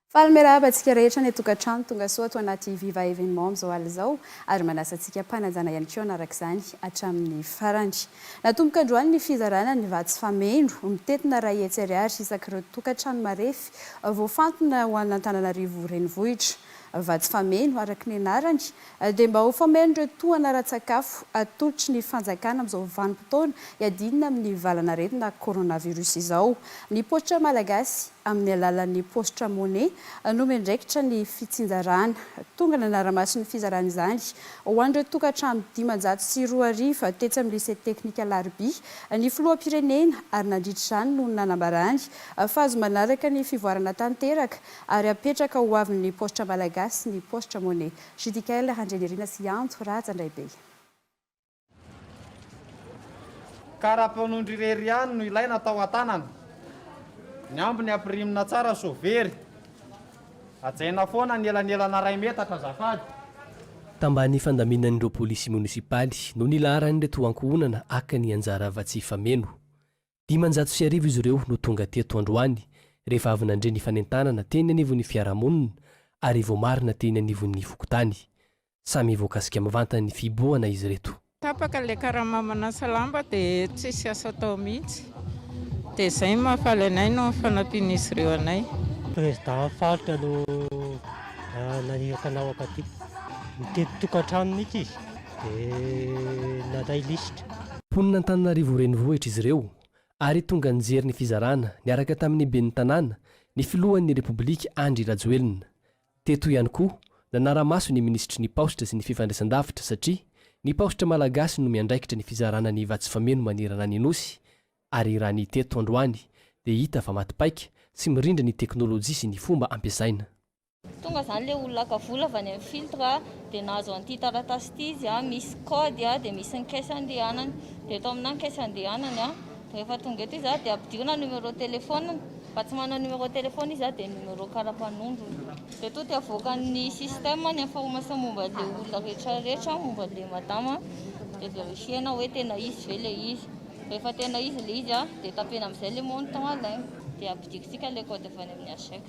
Faly miarahaba antsika rehetra any an-tokantrano, tongasoa ato anaty Viva Evenement amin'izao alina izao ary manasa antsika mpanajana ihany koa hanaraka izany hatramin'ny farany. Natomboka androany ny fizarana ny vatsy fameno, mitentina iray hetsy ariary isak'ireo tokantrano marefy voafantina ho an'Antananarivo Renivohitra. Vatsy fameno, araka ny anarany, Dia mba ho fameno ireo tohana ara-tsakafo atolotry ny fanjakana amin'izao vanim-potoana iadiana amin'ny valan'aretina coronavirus izao. Ny paositra malagasy, amin'ny alalan'ny paositra monnaie, no miandraikitra ny fitsinjarana. Tonga nanara-maso ny fizarana izany ho an'ireo tokantrano dimanjato sy roa arivo tetsy amin'ny Lycée Teknika Alarobia ny filoham-pirenena ary nandritra izany no nanambarany fa azo manaraka ny fivoarana tanteraka ary apetraka ho avin'ny paositra malagasy ny paositra money. Judikael Randrianirina sy Antso Raja Ndraibe. Karapanondry irery ihany no ilaina tao an-tanana. Ny ambiny ampirimina tsara sao very. Hajaina foana ny elanelana iray metatra azafady. Tambany fandaminan'ireo polisy monisipaly no nilaharan'ireto ankohonana haka ny anjara afa-tsy hifameno. Dimanjato sy arivo izy ireo no tonga teto androany rehefa avy nandre ny fanentanana teny anivon'ny fiarahamonina ary voamarina teny anivon'ny fokontany. Samy voakasika mivantana ny fihibohana izy ireto. Tapaka ilay karama manasa lamba dia tsisy asa atao mihitsy. Dia izay no mahafaly anay noho ny fanampian'izy ireo anay. Président faritra no naniraka anao hankatoa. Mitety tokantrano mihitsy izy. dia nandray lisitra. Mponina Antananarivo Renivohitra izy ireo ary tonga nijery ny fizarana niaraka tamin'ny ben'ny Tanàna, ny filohan'ny Repoblika Andry Rajoelina. Teto ihany koa, nanara-maso ny minisitry ny Paositra sy ny fifandraisandavitra satria ny Paositra Malagasy no miandraikitra ny fizarana ny vatsy fameno manerana ny Nosy ary raha ny teto androany dia hita fa maty paika sy mirindra ny teknolojia sy ny fomba ampiasaina Tonga zany le olona haka vola avy any amin'ny filtre a, dia nahazo an'ity taratasy ity izy a, misy kaody a, dia misy ny caisse andehanany, dia eto aminà ny caisse andehanany a, dia rehefa tonga eto izy a, dia ampidirina ny numéro téléphone-ny, raha tsy manana numéro téléphone izy a, dia ny numéro kara-panondrony, dia eto dia avoakan'ny système ny information momba an'le olona rehetra rehetra, momba an'le madama, dia verifier-na hoe tena izy ve le izy, rehefa tena izy le izy a, dia tapena am'zay le montant alaina, dia ampidirintsika le kaody avy any amin'ny ACEC.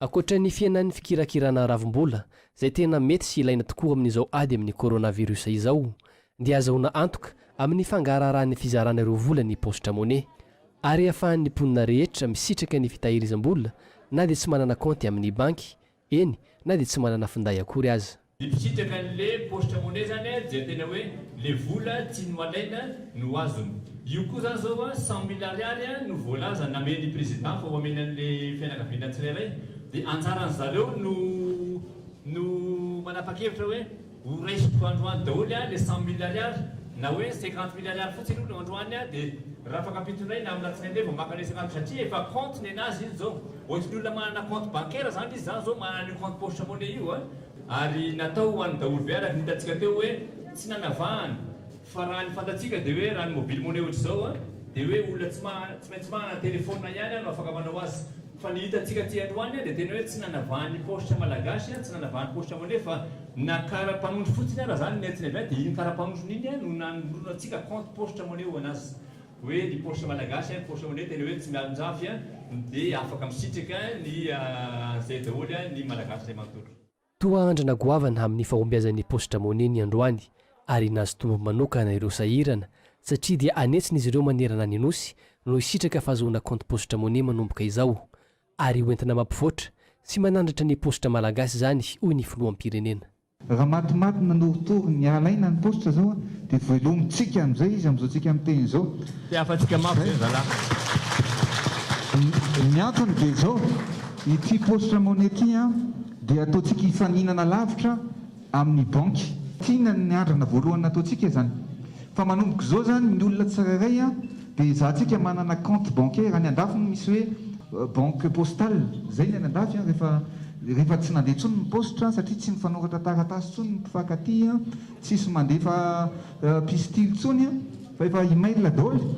Ankoatra ny fihenan'ny fikirakirana ravimbola, izay tena mety sy ilaina tokoa amin'izao ady amin'ny coronavirus izao, dia azahoana antoka amin'ny fangaraharahan'ny fizarana ireo vola ny paositra Money, ary ahafahan'ny mponina rehetra misitraka ny fitahirizam-bola na dia tsy manana kaonty amin'ny banky, eny, na dia tsy manana finday akory aza. Ny mpisitraka anle porte monnaie zany a dia tena hoe le vola tsy ny malaina no azony. Io koa zany zao a cent mille ariary a no voalaza namen'ny président fa ho amena anle fianakaviana tsirairay dia anjaran'ny zareo no no manapakevitra hoe ho raisiko androany daholo a le cent mille ariary na hoe cinquante mille ariary fotsiny hono androany a dia rafakapitondray na amin'alatsinainy ndray vao maka anle cinquante satria efa compte nenazy iny zao. Ohatry ny olona manana compte bancaire zany izy zany zao manana an'io compte porte monnaie io a. Ary natao ho an'ny daholo be araka ny hitantsika teo hoe tsy nanavahana fa raha ny fantatsika dia hoe raha ny mobile money ohatr'izao a dia hoe olona tsy tsy maintsy manana telephone ihany a no afaka manao azy fa ny hitantsika aty androany a dia tena hoe tsy nanavahan'ny paositra malagasy a tsy nanavahan'ny paositra money fa na kara-panondro fotsiny ara zany ny antsinay be a dia iny kara-panondrony iny a no nanolorantsika compte paositra money ho an'azy Hoe ny porsche malagasy an, porsche honnête le hoe tsy mialonjafy an, de afaka misitraka ny an'izay daholo an ny malagasy zay manontolo. Toa andrana goavana amin'ny fahombiazan'ny Post-Dramone ny androany ary nahazo tombony manokana ireo sahirana satria dia anetsin'izy ireo manerana ny Nosy no hisitraka fahazoana kaonty Post-Dramone manomboka izao ary hoentina mampivoatra sy manandratra ny Post-Dra malagasy izany hoy ny Filoham-pirenena. Raha matimaty nanorotoro ny alaina ny paositra zao dia velomintsika amizay izy amizao tsika miteny izao. Te hahafantsika mafy ve ny zalahy? Ny antony dia izao, ity paositra money ity an dia ataontsika hifaninana lavitra amin'ny banky. Tiana ny andrana voalohany nataontsika izany. Fa manomboka izao izany ny olona tsirairay an Dia izatsika manana compte bancaire any andafy moa misy hoe banque postale, izay ny any andafy an, rehefa rehefa tsy nandeha intsony ny paositra satria tsy mifanoratra taratasy intsony ny mpifankatia an, tsisy mandefa pistily intsony an, fa efa email daholo,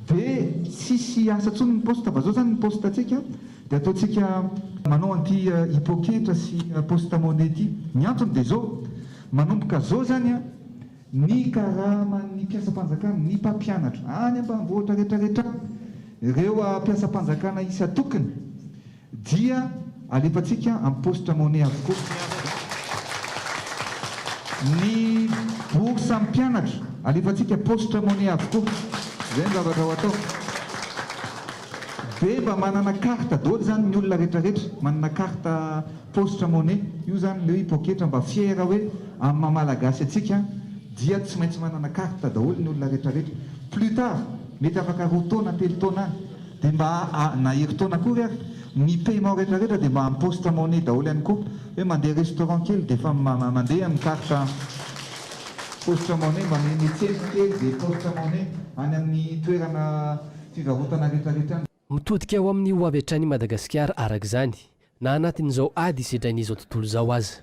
dia tsisy asa intsony ny poste, fa zao zany ny poste antsika dia ataontsika manao an'ity hipokentra sy poste money ity, ny antony dia zao, manomboka zao zany an, Ny karaman'ny mpiasam-panjakana, ny mpampianatra, any ambanivohitra rehetrarehetra any, ireo mpiasam-panjakana isan-tokony dia alefantsika amin'ny paositra money avokoa. Ny bourse amin'ny mpianatra alefantsika paositra money avokoa. Izay ny zavatra ho atao. Dia mba manana carte daholo izany ny olona rehetrarehetra, manana carte. Paositra money io zany leo i poketra mba fiera hoe amin'ny maha malagasy antsika dia tsy maintsy manana carte daholo ny olona retraretra plus tard mety afaka roa taona telo taona any dia mba na herintaona akory ary ny paiement retraretra dia mba amin'ny paositra money daholo ihany koa hoe mandeha restaurant kely dia efa mandeha amin'ny carte paositra money mba miha mitsena kely dia paositra money any amin'ny toerana fivarotana retraretra any. Mitodika ho amin'ny hoavy hatrany i Madagasikara araka izany, na anatin'izao ady sedrain'izao tontolo izao aza.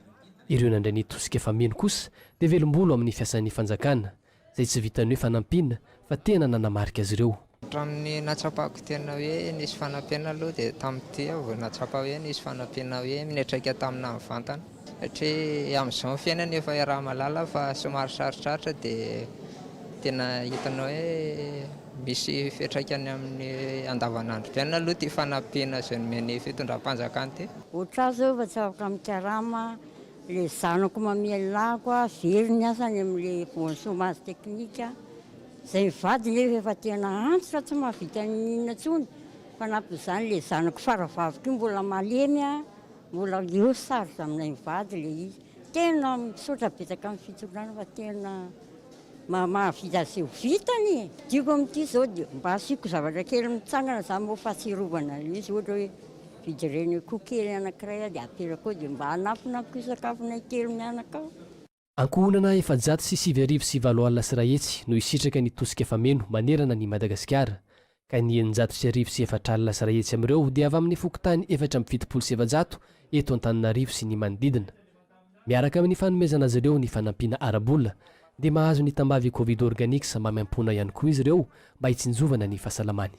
Ireo nandray ny tosika fa mino kosa dia velom-bolo amin'ny fiasan'ny fanjakana, izay tsy vitan'ny hoe fanampiana fa tena nanamarika azy ireo. Hatramin'ny nahatsapako tena hoe nisy fanampiana aloha dia tamin'ity aho vao nahatsapa hoe nisy fanampiana hoe minetraika tamina mivantana. Satria amin'izao ny fiainana efa iaraha-mahalala fa somary sarotrarotra dia tena hitanao hoe misy fiantraikany amin'ny andavanandrom-piainana aloha ity fanampiana izay nomen'ny fitondram-panjakana ity. Otrà zao efa tsy afaka mikarama le zanako mamelon'ako a, very ny asany amle bonne chomage technique a, zay mivady nefa efa tena antitra tsy mahavita n'inona inona tsony, fanampin'izany le zanako faravaviko io mbola malemy a, Mbola eo sarotra aminay mivady le izy, tena misaotra betsaka amin'ny fitondràna fa tena mahavita izay ho vitany e! Tiako amin'ity zao dia mba asiako zavatra kely mitsangana zany moa fahatsiarovana an'le izy ohatra hoe vidireny akoho kely anakiray aho dia aterako ao dia mba hanampina amiko sakafonay telo mianaka ao. Ankohonana efajato sy sivy arivo sy valo alina sy iray hetsy no hisitraka ny tosika fameno manerana an'i Madagasikara, ka ny eninjato sy arivo sy efatra alina sy iray hetsy amin'ireo dia avy amin'ny fokontany efatra amby fitopolo sy efajato eto Antananarivo sy ny manodidina. Miaraka amin'ny fanomezana azy ireo ny fanampiana ara-bola, dia mahazo ny tambavy Covid Organics maimaimpoana ihany koa izy ireo mba hitsinjovana ny fahasalamany.